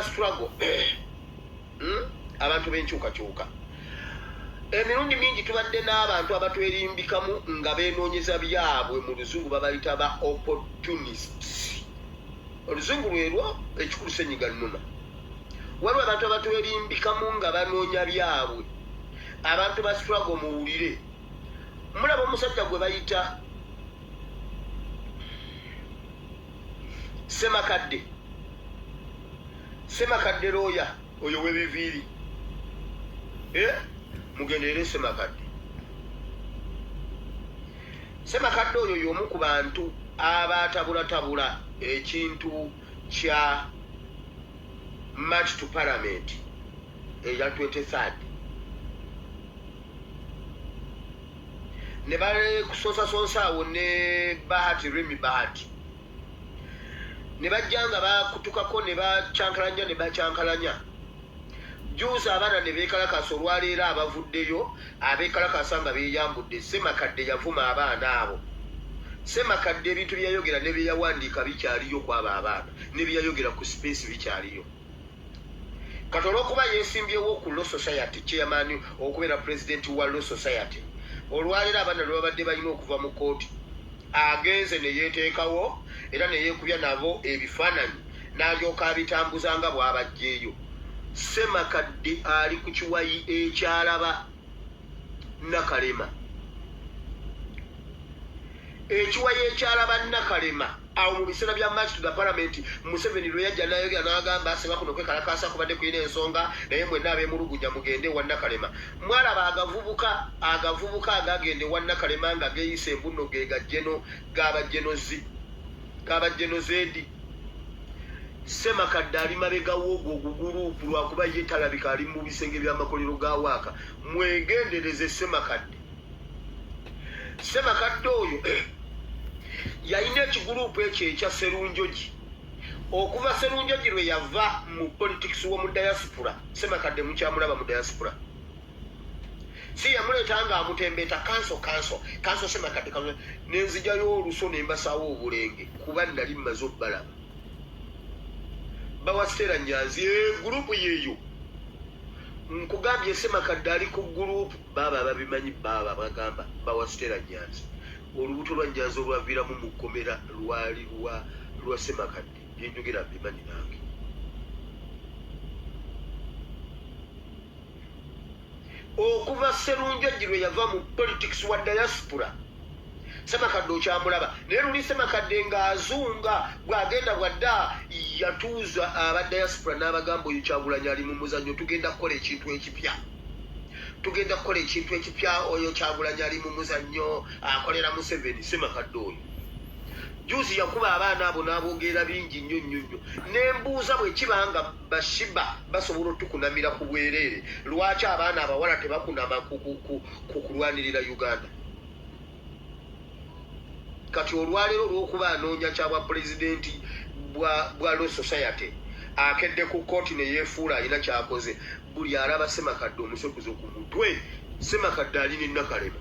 struggle hmm? abantu benkyukakyuka emirundi mingi tubadde n'abantu abatwerimbikamu nga benoonyeza byabwe mu luzungu babayita ba opportunists oluzungu lwerwo ekikulu senyiga numa waliwo abantu abatwerimbikamu nga banoonya byabwe abantu ba struggle muwulire mulaba omusajja gwe bayita Semakadde Semakadde looya oyo webiviiri eh? mugenderere Semakadde Semakadde oyo y'omu ku bantu abatabulatabula ekintu kya match to parliament eya 23 ne bakusonsasonsa awo ne bahati rimi bahati ne bajja nga bakutukako ne bakyankalanya ne bakyankalanya juuzi abaana ne beekalakaasa olwaleero abavuddeyo abeekalakaasa nga beeyambudde ssemakadde yavuma abaana abo ssemakadde ebintu byeyayogera ne byeyawandiika bikyaliyo kwabo abaana ne byeyayogera ku sipeesi bikyaliyo Kati olwokuba yesimbyewo ku Law Society chairman okubeera president wa Law Society, olwaleero abaana lwebabadde balina okuva mu kooti, agenze neyeteekawo era neyekubya nabo ebifaananyi nalyoka abitambuza nga bwabajjeeyo. Ssemakadde ali ku kiwayi ekyalaba Nakalema. Ekiwayi ekyalaba Nakalema. awo mu biseera bya march to the parliament museveni lwe yajja nayogera n'agamba asema kuno kwekalakaasa kubadde kulina ensonga naye mwenna abemulugunya mugende ewa nakalema mwalaba agavubuka agavubuka agagenda ewa nakalema nga geyisa embunno ge gajeno gabajenozi gabajenozedi semakadde ali mabega woogo oguguluupu lwakuba ye talabika ali mu bisenge by'amakolero ga waaka mwegendereze semakadde ssemakadde oyo yalina ekiguluupu ekyo ekya serunjogi okuva serunjogi lwe yava mu politics womu diaspora ssemakadde mukyamulaba mu diaspora si yamuleeta nga amutembeeta kanso kanso kanso ssemakadde ka nenzijayo oluso nembasawo obulenge kuba nali mmaze obbalaba bawasitera nyanzi eguluupu yeeyo nkugambye ssemakadde ali ku guluupu Baaba ababimanyi baaba bagamba bba wa Stella Nyanzi olubuto lwa Nyanzi olwaviiramu mu kkomera lwali lwa lwa Ssemakadde. Bye njogera mbimanyi nange. Okuva Sserunjogi lwe yava mu politics wa diaspora, semakadde okyamulaba naye luli semakadde ng'azunga bw'agenda bwadda yatuuza aba diaspora n'abagamba oyo kyagulanyi ali mu muzannyo tugenda kukola ekintu ekipya tugenda kukola ekintu ekipya oyo kyagulanyi ali mu muzannyo akolera museveni semakadde oyo juzi yakuba abaana abo n'abogeera bingi nnyo nnyo nnyo nembuuza bwekiba nga bashiba basobola otukunamira ku bwereere lwaki abaana abawala tebakunama ku kulwanirira uganda Kati olwaleero olw'okuba anoonya kya bwapulezidenti bwa Law Society, akedde ku kkooti ne yeefuula alina ky'akoze. Buli alaba Ssemakadde omusekuzo ku mutwe. Ssemakadde ali ne Nakalema.